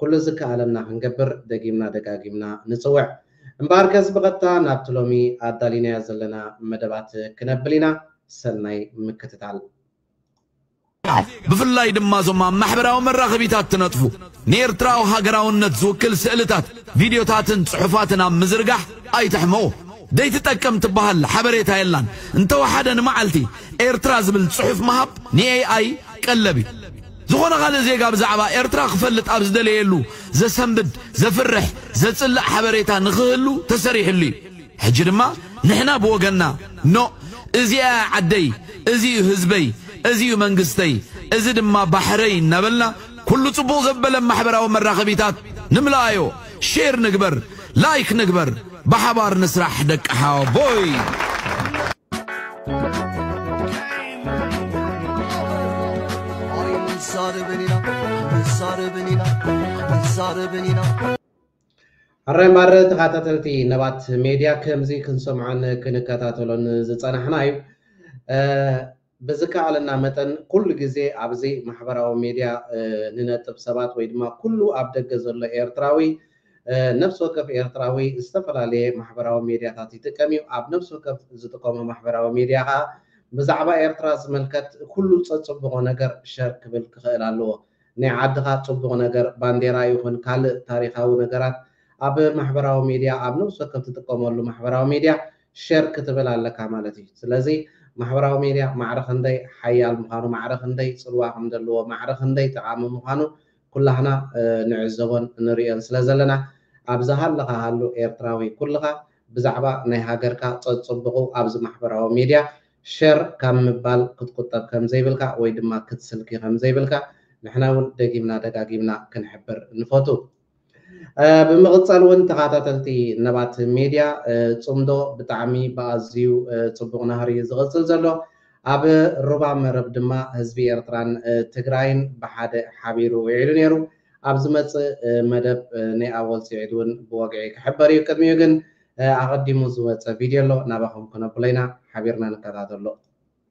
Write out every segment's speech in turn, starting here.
ኩሉ ዝከኣለና ክንገብር ደጊምና ደጋጊምና ንጽውዕ። እምበኣርከስ ብቐጥታ ናብቲ ሎሚ ኣዳሊናዮ ዘለና መደባት ክነብል ኢና። ሰናይ ምክትታል። ኣሕ! ብፍላይ ድማ እዞም ኣብ ማሕበራዊ መራኸቢታት ትነጥፉ፣ ንኤርትራዊ ሃገራውነት ዝውክል ስእልታት፣ ቪድዮታትን ጽሑፋትን ኣብ ምዝርጋሕ ኣይትሕመቑ። ዘይትጠቅም ትበሃል ሓበሬታ የላን። እንተወሓደ ንመዓልቲ ኤርትራ ዝብል ጽሑፍ ምሃብ ንኤይ-ኣይ ቀለብ እዩ። ዝኾነ ካልእ ዜጋ ብዛዕባ ኤርትራ ክፈልጥ ኣብ ዝደለየሉ ዘሰንብድ፣ ዘፍርሕ፣ ዘጽልእ ሓበሬታ ንኽህሉ ተሰሪሕሉ እዩ። ሕጂ ድማ ንሕና ብወገንና ኖእ እዚኣ እያ ዓደይ፣ እዚ እዩ ህዝበይ፣ እዚ እዩ መንግስተይ፣ እዚ ድማ ባሕረይ እናበልና ኩሉ ጽቡቕ ዘበለ ማሕበራዊ መራኸቢታት ንምልኣዮ። ሼር ንግበር ላይክ ንግበር ብሓባር ንስራሕ ደቂ ሓወቦይ። ኣረ ማረ ተኸታተልቲ ነባት ሜድያ ከምዚ ክንሰምዖን ክንከታተሎን ዝፀናሕና እዩ። ብዝከኣለና መጠን ኩሉ ግዜ ኣብዚ ማሕበራዊ ሜድያ ንነጥብ ሰባት ወይ ድማ ኩሉ ኣብ ደገ ዘሎ ኤርትራዊ ነፍሲ ወከፍ ኤርትራዊ ዝተፈላለየ ማሕበራዊ ሜድያታት ይጥቀም እዩ ኣብ ነፍሲ ወከፍ ዝጥቀሞ ማሕበራዊ ሜድያ ከኣ ብዛዕባ ኤርትራ ዝምልከት ኩሉ ጸጽብቆ ነገር ሸር ክብል ክኽእል ኣለዎ ናይ ዓድኻ ጽቡቕ ነገር ባንዴራ ይኹን ካልእ ታሪኻዊ ነገራት ኣብ ማሕበራዊ ሜድያ ኣብ ነፍሲ ወከፍ ትጥቀመሉ ማሕበራዊ ሜድያ ሸር ክትብል ኣለካ ማለት እዩ ስለዚ ማሕበራዊ ሜድያ ማዕረ ክንደይ ሓያል ምዃኑ ማዕረ ክንደይ ጽልዋ ከም ዘለዎ ማዕረ ክንደይ ጠቓሚ ምዃኑ ኩላህና ንዕዘቦን ንርእዮን ስለ ዘለና ኣብ ዝሃለኻ ሃሉ ኤርትራዊ ኩልኻ ብዛዕባ ናይ ሃገርካ ጸጽቡቑ ኣብዚ ማሕበራዊ ሜድያ ሸር ካብ ምባል ክትቁጠብ ከም ዘይብልካ ወይ ድማ ክትስልኪ ከም ዘይብልካ ንሕና ውን ደጊምና ደጋጊምና ክንሕብር ንፈቱ። ብምቕጻል ውን ተኻታተልቲ ነባት ሜድያ ጽምዶ ብጣዕሚ ብኣዝዩ ጽቡቕ ናህሪ ዝቕጽል ዘሎ ኣብ ሩባ መረብ ድማ ህዝቢ ኤርትራን ትግራይን ብሓደ ሓቢሩ ዊዒሉ ኔሩ ኣብ ዝመጽእ መደብ ናይ ኣወል ሲዒድ ውን ብወግዒ ክሕበር እዩ ቅድሚኡ ግን ኣቐዲሙ ዝወጸ ቪድዮ ኣሎ ናባኹም ክነብሎ ኢና ሓቢርና ንከታተሎ።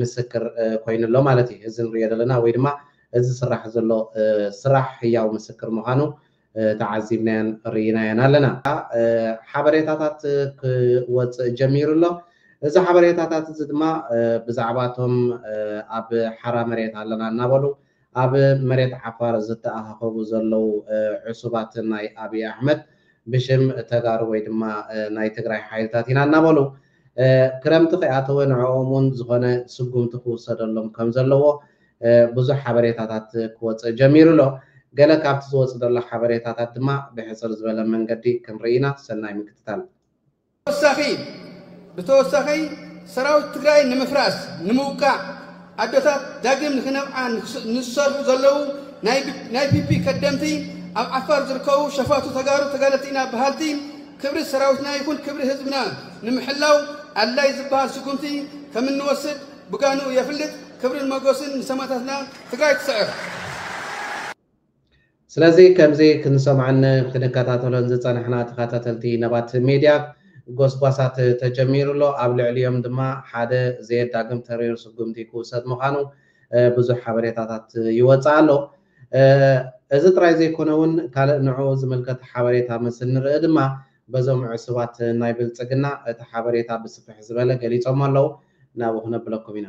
ምስክር ኮይኑ ኣሎ ማለት እዩ። እዚ ንሪኦ ዘለና ወይ ድማ እዚ ዝስራሕ ዘሎ ስራሕ ህያው ምስክር ምዃኑ ተዓዚብናዮን ርኢናዮን ኣለና። ሓበሬታታት ክወፅእ ጀሚሩ ኣሎ። እዚ ሓበሬታታት እዚ ድማ ብዛዕባ እቶም ኣብ ሓራ መሬት ኣለና እናበሉ ኣብ መሬት ዓፋር ዝተኣኻኸቡ ዘለዉ ዕሱባት ናይ ኣብይ ኣሕመድ ብሽም ተጋሩ ወይ ድማ ናይ ትግራይ ሓይልታት ኢና እናበሉ ክረምቲ ከይኣተወ ንዕኦም እውን ዝኾነ ስጉምቲ ክውሰደሎም ከም ዘለዎ ብዙሕ ሓበሬታታት ክወፅእ ጀሚሩ ኣሎ። ገለ ካብቲ ዝወፅእ ዘሎ ሓበሬታታት ድማ ብሕፅር ዝበለ መንገዲ ክንርኢ ኢና። ሰናይ ምክትታል። ተወሳኺ ብተወሳኺ ሰራዊት ትግራይ ንምፍራስ ንምውቃዕ ኣዶታት ዳግም ንክነብዓ ንዝሰርሑ ዘለዉ ናይ ፒፒ ከደምቲ ኣብ ዓፋር ዝርከቡ ሸፋቱ ተጋሩ ተጋደልቲ ኢና በሃልቲ ክብሪ ሰራዊትና ይኹን ክብሪ ህዝብና ንምሕላው ኣድላይ ዝበሃል ስጉምቲ ከም እንወስድ ብጋንኡ የፍልጥ። ክብርን መጎስን ንሰማእታትና! ትግራይ ትስዕር! ስለዚ ከምዚ ክንሰምዖን ክንከታተሎን ዝጸናሕና ተኸታተልቲ ነባት ሜድያ፣ ጎስጓሳት ተጀሚሩ ኣሎ፣ ኣብ ልዕሊኦም ድማ ሓደ ዘየዳግም ተሪር ስጉምቲ ክውሰድ ምዃኑ ብዙሕ ሓበሬታታት ይወጽእ ኣሎ። እዚ ጥራይ ዘይኮነውን ካልእ ንዕኡ ዝምልከት ሓበሬታ ምስ እንርኢ ድማ በዞም ዕሱባት ናይ ብልጽግና እቲ ሓበሬታ ብስፍሕ ዝበለ ገሊጾሞ ኣለዉ፣ ናብኡ ክነብለኩም ኢና።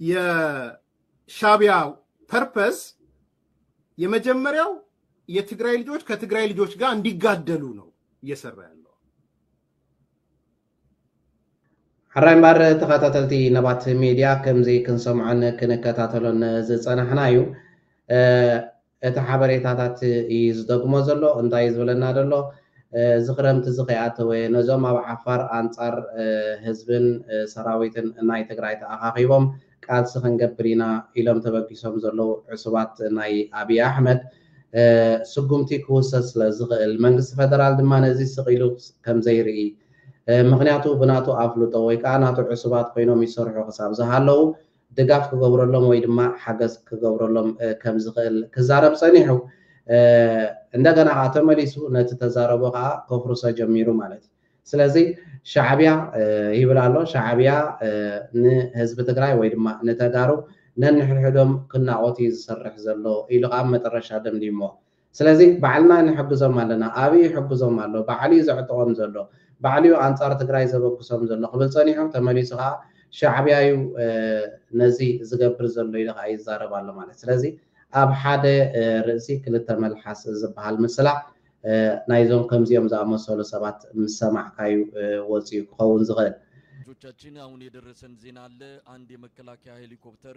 የሻቢያ ፐርፐዝ የመጀመሪያው የትግራይ ልጆች ከትግራይ ልጆች ጋር እንዲጋደሉ ነው እየሰራ ያለው። ሕራይ እምበር ተኸታተልቲ ነባት ሚድያ ከምዚ ክንሰምዖን ክንከታተሎን ዝፀናሕና እዩ። እቲ ሓበሬታታት እዪ ዝደግሞ ዘሎ እንታይ እዪ ዝብለና ደሎ እዚ ክረምቲ እዚ ከይኣተወ ነዞም ኣብ ዓፋር ኣንጻር ህዝብን ሰራዊትን ናይ ትግራይ ተኣኻኺቦም ቃልሲ ክንገብር ኢና ኢሎም ተበጊሶም ዘለዉ ዕሱባት ናይ ኣብዪ ኣሕመድ ስጉምቲ ክውሰድ ስለ ዝኽእል መንግስቲ ፈደራል ድማ ነዚ ስቕ ኢሉ ከም ዘይርኢ ምኽንያቱ ብናቱ ኣፍልጦ ወይ ከኣ ናቱ ዕሱባት ኮይኖም ይሰርሑ ክሳብ ዝሃለዉ ድጋፍ ክገብረሎም ወይ ድማ ሓገዝ ክገብረሎም ከም ዝኽእል ክዛረብ ጸኒሑ እንደገና ከኣ ተመሊሱ ነቲ ተዛረቦ ከኣ ከፍርሶ ጀሚሩ ማለት እዩ። ስለዚ ሻዕብያ ይብል ኣሎ ሻዕብያ ንህዝቢ ትግራይ ወይ ድማ ንተጋሩ ነንሕድሕዶም ክናቖት እዩ ዝሰርሕ ዘሎ ኢሉ ከኣ መጠረሻ ደምዲምዎ። ስለዚ ባዕልና ንሕግዞም ኣለና፣ ኣብይ ይሕግዞም ኣሎ፣ ባዕሉዩ ዘዕጥቖም ዘሎ፣ ባዕሉዩ ኣንጻር ትግራይ ዘበግሶም ዘሎ ክብል ጸኒሑ፣ ተመሊሱ ከኣ ሻዕብያዩ ነዚ ዝገብር ዘሎ ኢሉ ከኣ ይዛረብ ኣሎ ማለት ስለዚ ኣብ ሓደ ርእሲ ክልተ መልሓስ ዝበሃል ምስላ ናይዞም ከምዚኦም ዝኣመሰሉ ሰባት ምስ ሰማዕካዩ ወጺኡ ክኸውን ዝኽእል። ምንጮቻችን ኣሁን የደረሰን ዜና ኣለ ኣንድ የመከላከያ ሄሊኮፕተር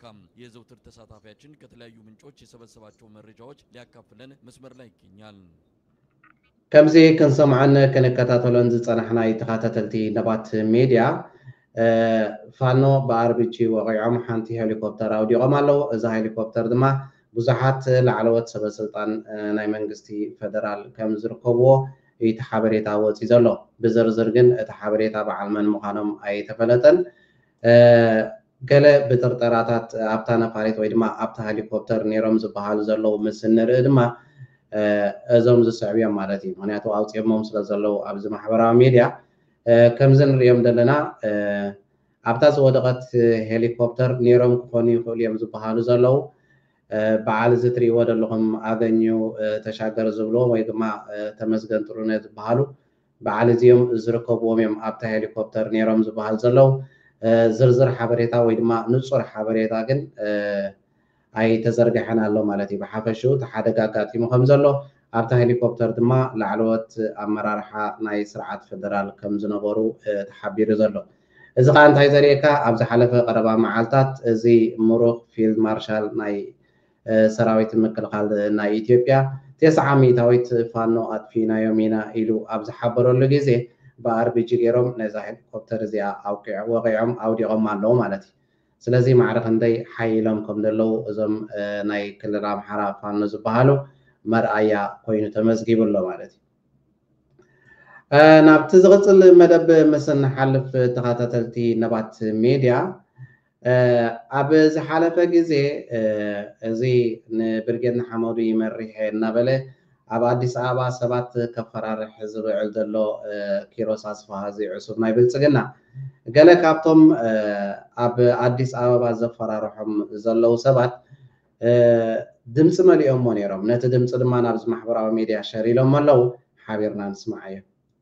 ካም የዘውትር ተሳታፊያችን ከተለያዩ ምንጮች የሰበሰባቸው መረጃዎች ሊያካፍለን መስመር ላይ ይገኛል። ከምዚ ክንሰምዖን ክንከታተሎን ዝጸናሕናይ ተኻታተልቲ ነባት ሜድያ ፋኖ ብኣርቢጂ ወቒዖም ሓንቲ ሄሊኮፕተር ኣውዲቖም ኣለው። እዛ ሄሊኮፕተር ድማ ብዙሓት ላዕለዎት ሰበስልጣን ናይ መንግስቲ ፈደራል ከም ዝርከብዎ እዩቲ ሓበሬታ ወጺኡ ዘሎ። ብዝርዝር ግን እቲ ሓበሬታ በዓል መን ምዃኖም ኣይተፈለጠን። ገለ ብጥርጠራታት ኣብታ ነፋሪት ወይ ድማ ኣብታ ሀሊኮፕተር ነይሮም ዝበሃሉ ዘለዉ ምስ እንርኢ ድማ እዞም ዝስዕቡ እዮም ማለት እዩ። ምክንያቱ ኣውፂኦሞም ስለ ዘለዉ ኣብዚ ማሕበራዊ ሚድያ ከምዚ ንርእዮም ዘለና ኣብታ ዝወደቐት ሄሊኮፕተር ነይሮም ክኾኑ ይኽእሉ እዮም ዝበሃሉ ዘለዉ በዓል እዚ ትርእይዎ ዘለኹም ኣገኙ ተሻገር ዝብልዎም ወይ ድማ ተመስገን ጥሩነህ ዝበሃሉ በዓል እዚም ዝርከብዎም እዮም ኣብታ ሄሊኮፕተር ነይሮም ዝበሃል ዘለዉ። ዝርዝር ሓበሬታ ወይ ድማ ንፁር ሓበሬታ ግን ኣይተዘርገሐን ኣሎ ማለት እዩ። ብሓፈሽኡ እቲ ሓደጋ ኣጋጢሙ ከምዘሎ ኣብታ ሄሊኮፕተር ድማ ላዕለዎት ኣመራርሓ ናይ ስርዓት ፌደራል ከምዝነበሩ ተሓቢሩ ዘሎ። እዚ ከዓ እንታይ ዘርእየካ ኣብ ዝሓለፈ ቀረባ መዓልታት እዚ ምሩኽ ፊልድ ማርሻል ናይ ሰራዊት ምክልኻል ናይ ኢትዮጵያ፣ ቴስዓ ሚእታዊት ፋኖ ኣጥፊእናዮም ኢና ኢሉ ኣብ ዝሓበረሉ ግዜ፣ ብኣርቢጂ ገይሮም ነዛ ሄሊኮፕተር እዚኣ ወቒዖም ኣውዲቖማ ኣለዉ ማለት እዩ። ስለዚ ማዕረ ክንደይ ሓይሎም ከም ዘለዉ እዞም ናይ ክልል ኣምሓራ ፋኖ ዝበሃሉ መርኣያ ኮይኑ ተመዝጊቡ ኣሎ ማለት እዩ። ናብቲ ዝቕፅል መደብ ምስ እንሓልፍ ተኸታተልቲ ነባት ሜድያ፣ ኣብ ዝሓለፈ ግዜ እዚ ንብርጌድ ንሓመዱ ይመሪሕ'የ እናበለ ኣብ ኣዲስ ኣበባ ሰባት ከፈራርሕ ዝውዕል ዘሎ ኪሮስ ኣስፍሃ እዚ ዕሱብ ናይ ብልጽግና ገለ ካብቶም ኣብ ኣዲስ ኣበባ ዘፈራርሖም ዘለዉ ሰባት ድምጺ መሊኦሞ ነይሮም። ነቲ ድምጺ ድማ ናብዚ ማሕበራዊ ሚድያ ሸር ኢሎሞ ኣለዉ። ሓቢርና ንስምዓዮ።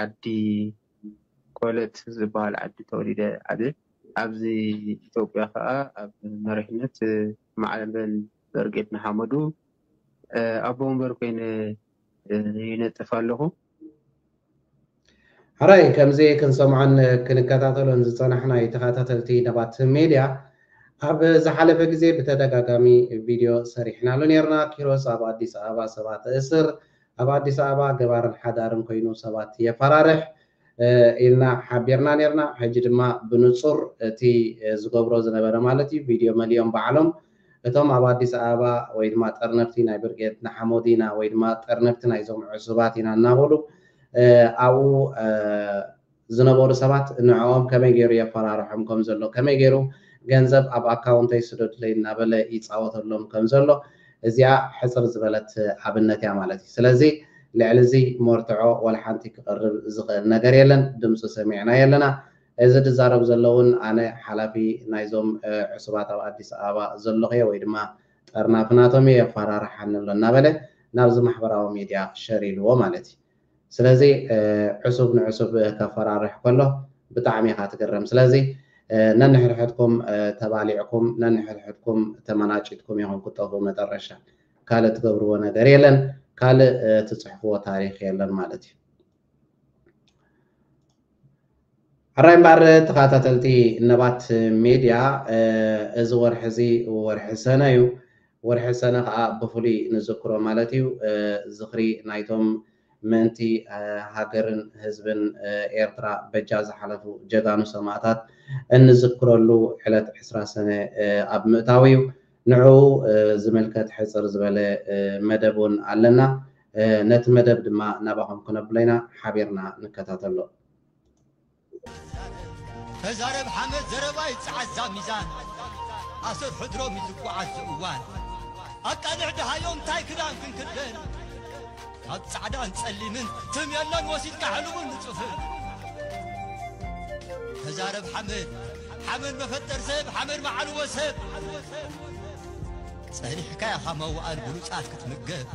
ዓዲ ኮለት ዝባሃል ዓዲ ተወሊደ ዓብየ። ኣብዚ ኢትዮጵያ ከኣ ኣብ መሪሕነት ማዕበል በርጌድ ንሓመዱ ኣቦ ወንበር ኮይነ ይነጥፍ ኣለኹ። ሕራይ ከምዚ ክንሰምዖን ክንከታተሎን ዝጸናሕናዩ ተኸታተልቲ ነባት ሜድያ ኣብ ዝሓለፈ ግዜ ብተደጋጋሚ ቪድዮ ሰሪሕናሉ ኔርና ኪሮስ ኣብ ኣዲስ ኣበባ ሰባት እስር ኣብ ኣዲስ ኣበባ ገባርን ሓዳርን ኮይኑ ሰባት የፈራርሕ ኢልና ሓቢርና ኔርና ሕጂ ድማ ብንጹር እቲ ዝገብሮ ዝነበረ ማለት እዩ ቪድዮ መሊኦም ባዕሎም እቶም ኣብ ኣዲስ ኣበባ ወይ ድማ ጠርነፍቲ ናይ ብርጌድ ንሓመዱ ኢና ወይ ድማ ጠርነፍቲ ናይዞም ዕሱባት ኢና እናበሉ ኣብኡ ዝነበሩ ሰባት ንዕኦም ከመይ ገይሩ የፈራርሖም ከም ዘሎ፣ ከመይ ገይሩ ገንዘብ ኣብ ኣካውንተይ ስደዱለይ እናበለ ይጻወተሎም ከም ዘሎ፣ እዚኣ ሕጽር ዝበለት ኣብነት እያ ማለት እዩ። ስለዚ ልዕሊ እዚ መርትዖ ዋላ ሓንቲ ክቐርብ ዝኽእል ነገር የለን፣ ድምጹ ሰሚዕናዮ ኣለና። እዚ ዝዛረብ ዘሎ እውን ኣነ ሓላፊ ናይዞም ዕሱባት ኣብ ኣዲስ ኣበባ ዘለኹ እየ ወይ ድማ ጠርናፊ ናቶም እየ፣ የፈራርሓኒ ኣሎ እናበለ ናብዚ ማሕበራዊ ሚድያ ሸር ኢልዎ ማለት እዩ። ስለዚ ዕሱብ ንዕሱብ ከፈራርሕ ከሎ ብጣዕሚ ኢኻ ትግረም ስለዚ ነንሕድሕድኩም ተባሊዕኩም ነንሕድሕድኩም ተመናጪትኩም ኢኹም ክጠፍኡ መጠረሻ ካልእ ትገብርዎ ነገር የለን ካልእ ትጽሕፍዎ ታሪኽ የለን ማለት እዩ። ሕራይ እምበኣር ተኸታተልቲ ነባት ሜድያ እዚ ወርሒ እዚ ወርሒ ሰነ እዩ። ወርሒ ሰነ ከኣ ብፍሉይ ንዝክሮ ማለት እዩ። ዝኽሪ ናይቶም ምእንቲ ሃገርን ህዝብን ኤርትራ በጃ ዝሓለፉ ጀጋኑ ሰማእታት እንዝክረሉ ዕለት ዕስራ ሰነ ኣብ ምእታዉ እዩ። ንዕኡ ዝምልከት ሕጽር ዝበለ መደብ እውን ኣለና። ነቲ መደብ ድማ ናባኹም ክነብሎ ኢና ሓቢርና ንከታተሎ። ተዛረብ ሓመድ ዘረባ ይጸዓዛ ሚዛን ኣሰር ሕድሮም ይዝጓዓዝ እዋን ኣቃልዕ ድሃዮም እንታይ ክዳን ክንክደን ካብ ጻዕዳን ጸሊምን ትም የለን ወሲድካ ሕልሙን ንጽፍን ተዛረብ ሓመድ ሓመድ መፈጠር ሰብ ሓመድ መዓልዎ ሰብ ጸኒሕካ ኢኻ መዋኣል ብሉጻት ክትምገብ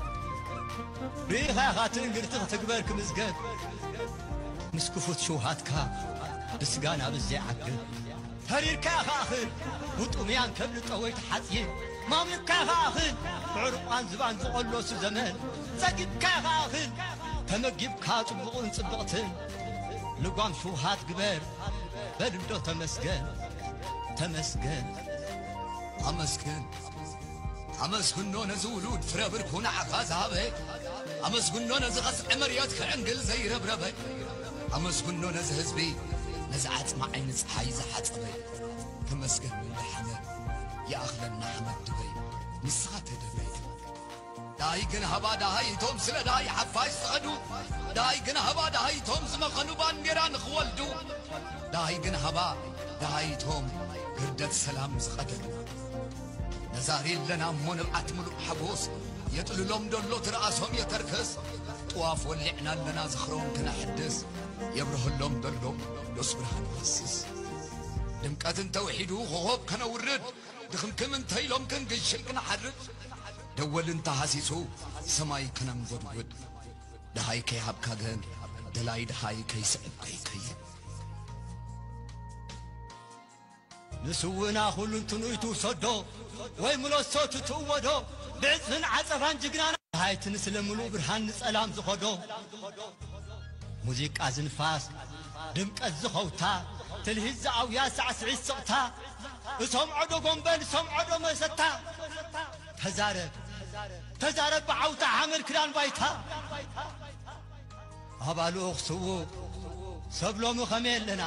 ርኢኻ ኢኻ ትእንግርቲ ክትግበር ክምዝገብ ምስ ክፉት ሽውሃትካ ብስጋ ናብ ዘይዓግብ ተሪርካ ኢኻ እኽል ውጡምያን ከብሊ ጠወይቲ ሓጺን ማሙቕካ ኢኻ እኽል ብዕርቋን ዝባን ዝቖሎሱ ዘመን ጸጊብካ ኢኻ እኽል ተመጊብካ ጽቡቕን ጽብቕትን ልጓም ሽውሃት ግበር በልንዶ ተመስገን ተመስገን ኣመስግን ኣመስግኖ ነዚ ውሉድ ፍረ ብርኩ ንዓኻ ዝሃበ ኣመስግኖ ነዚ ቐስዐ መርየት ክዕንግል ዘይረብረበ ኣመስግኖ ነዚ ህዝቢ ነዚ ዓጽሚ ዓይኒ ጸሓይ ዝሓጸበ ተመስገን ንደሓነ ይኣኽለና ሓመድ ድበይ ንስኻ ተደበይ ደሃይ ግን ሃባ ደሃይ እቶም ስለ ደሃይ ሓፋሽ ዝኸዱ ደሃይ ግን ሃባ ደሃይ እቶም ዝመኸኑ ባንዴራ ንኽወልዱ ደሃይ ግን ሃባ ደሃይ እቶም ግርደት ሰላም ዝቐደዱ ነዛሪ ኣለና እሞ ንብዓት ምሉእ ሓጎስ የጥልሎም ደሎ ትርኣሶም የተርከስ ጥዋፍ ወሊዕና ኣለና ዝኽሮም ክነሕድስ የብርሀሎም ደሎ ቅዱስ ብርሃን ይፈስስ ድምቀትን ተውሒዱ ኾኾብ ከነውርድ ድኽምክም እንተ ኢሎም ክንግሽን ክንሓርድ ደወል እንተ ሃሲሱ ሰማይ ከነንጐድጕድ ደሃይ ከይሃብካ ግሀን ደላይ ደሃይ ከይስዕብ ከይከይድ ንስውእና ኹሉንትንኡ ትውሰዶ ወይ ምለሶ ትትእወዶ ብዕጽፍን ዓጸፋን ጅግናና ሃይቲ ንስለ ምሉእ ብርሃን ንጸላም ዝኸዶ ሙዚቃ ዝንፋስ ድምቀት ዝኸውታ ትልሂት ዝኣውያ ሳዕስዒት ስቕታ እሰምዖዶ ጎምበል እሰምዖዶ መሰታ ተዛረብ ተዛረብ ብዓውታ ሓመድ ክዳን ባይታ ኣባሉ ክስውእ ሰብ ሎሚ ኸመይ ኣለና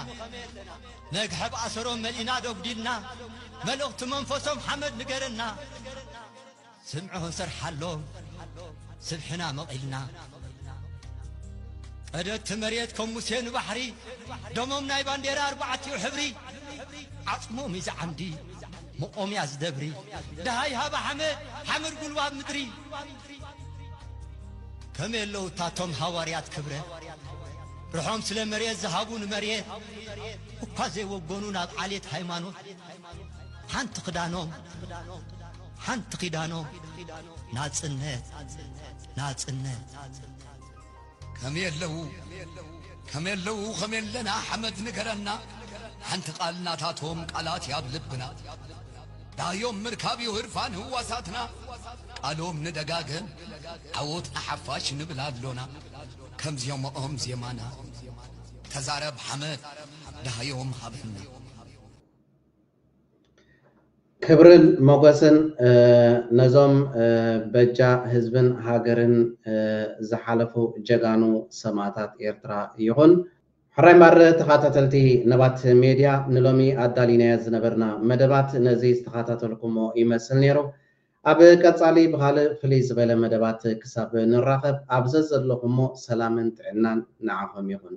መግሐብ ኣሰሮም መልኢና ዶጉዲልና መልእኽቲ መንፈሶም ሓመድ ንገረና ስምዑ ክንሰርሓሎ ስብሕና መቒልና ቀደቲ መሬት ከም ሙሴ ንባሕሪ ደሞም ናይ ባንዴራ ኣርባዕቲኡ ሕብሪ ዓጽሞም እዩ ዝዓምዲ መቖምያ ዝደብሪ ደሃይ ሃባ ሓመድ ሓመድ ጉልባብ ምድሪ ከመይ ኣለዉ እታቶም ሃዋርያት ክብረ ርሖም ስለ መሬት ዝሃቡ ንመሬት እኳ ዘይወገኑ ናብ ዓሌት ሃይማኖት ሓንቲ ክዳኖም ሓንቲ ኪዳኖም ናጽነት ናጽነት ከም የለዉ ከም የለዉ ከም የለና ሓመድ ንገረና ሓንቲ ቃል ናታቶም ቃላት ያብ ልብና ዳዮም ምርካብ እዩ ህርፋን ህዋሳትና ቃሎም ንደጋገም ዓወት ንሓፋሽ ንብል ኣሎና ከም ዜማኦም ዜማና ተዛረብ ሓመድ ዳሃዮም ሃበና ክብርን ሞገስን ነዞም በጃ ህዝብን ሃገርን ዝሓለፉ ጀጋኑ ሰማእታት ኤርትራ ይኹን። ሕራይ እምበኣር ተኻታተልቲ ነባት ሜድያ ንሎሚ ኣዳሊናዮ ዝነበርና መደባት ነዚ ዝተኻታተልኩሞ ይመስል ኔሩ። ኣብ ቀጻሊ ብኻልእ ፍልይ ዝበለ መደባት ክሳብ ንራኸብ ኣብ ዘዘለኹሞ ሰላምን ጥዕናን ንዓኹም ይኹን።